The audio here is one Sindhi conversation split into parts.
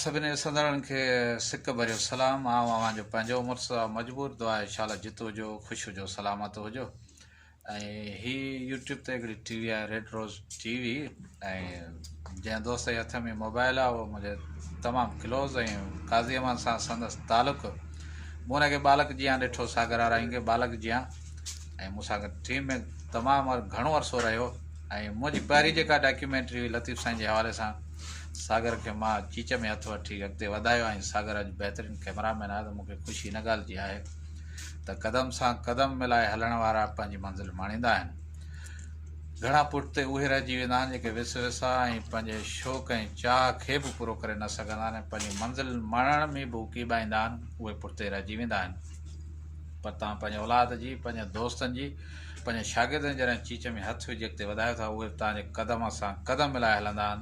سڀني ڏسندڙن کي سڪ ڀريو سلام آئون اوهان جو پنهنجو مرتضيٰ مجبور دعا ايشاالله جت هجو خوش هجو سلامت هجو ۽ هي يوٽيوب تي هڪڙي ٽي وي آهي ريڊ روز ٽي وي ۽ جنهن دوست جي هٿ ۾ موبائل آهي اهو منهنجي تمام ڪلوز ۽ قاضي امان سان سندس تعلق مون هن کي ٻالڪ جيان ڏٺو ساگر آرائين کي ٻالڪ جيان ۽ مون سان گڏ ٽيم ۾ تمام گهڻو عرصو رهيو ۽ منهنجي پهرين جيڪا ڊاڪيومينٽري هئي لطيف سائين جي حوالي سان ساگر کي مان چيچ ۾ هٿ وٺي اڳتي وڌايو ۽ ساگر اڄ بهترين ڪئميرا مين آهي ته مون کي خوشي هن ڳالهه جي آهي ته قدم سان قدم ملائي هلڻ وارا پنهنجي منزل ماڻيندا آهن. گهڻا پٺتي اهي رهجي ويندا آهن جيڪي وس وساء ۽ پنهنجي شوق ۽ چاهه کي به پورو ڪري نه سگهندا آهن ۽ پنهنجي منزل ماڻڻ ۾ به اڪيٻائيندا آهن اهي پٺتي رهجي ويندا آهن پر توهان پنهنجي اولاد جي پنهنجي دوستن جي پنهنجي شاگردن جي جڏهن چيچ ۾ هٿ وجهي اڳتي وڌايو ٿا اهي به توهان جي قدم سان قدم ملائي هلندا آهن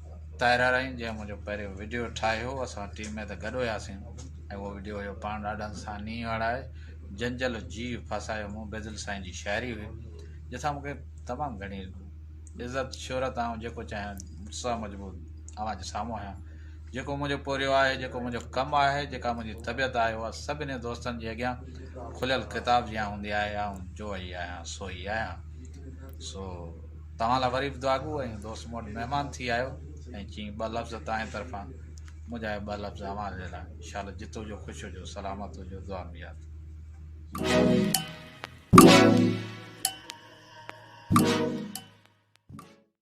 طاهره رحيم جنهن منهنجو پهريون وڊيو ٺاهيو هو اسان ٽيم ۾ ته گڏ هياسين ۽ اهو وڊيو هيو پاڻ ڏاڍا سا نينهن وارا آهي جنجل جي ڦاسايو مون بيدل سائين جي شاعري هئي جنهن سان مونکي تمام گهڻي عزت شهرت آئون جيڪو چاهيان سا مجبور اوهان جي سامهون آهيان جيڪو منهنجو پورهيو آهي جيڪو منهنجو ڪم آهي جيڪا منهنجي طبيعت آهي اها سڀني دوستن جي اڳيان کليل ڪتاب جيان هوندي آهي آئون جو هي آهيان سو هي آهيان سو توهان لاء وري به دعاگو ۽ دوست مون وٽ مهمان ٿي آيو ۽ چيائين ٻه لفظ تانهين طرفان منهنجا اهي ٻه لفظ اوهان جي لاء شال جت هجو خوش هجو سلامت هجو دعا ۾ ياد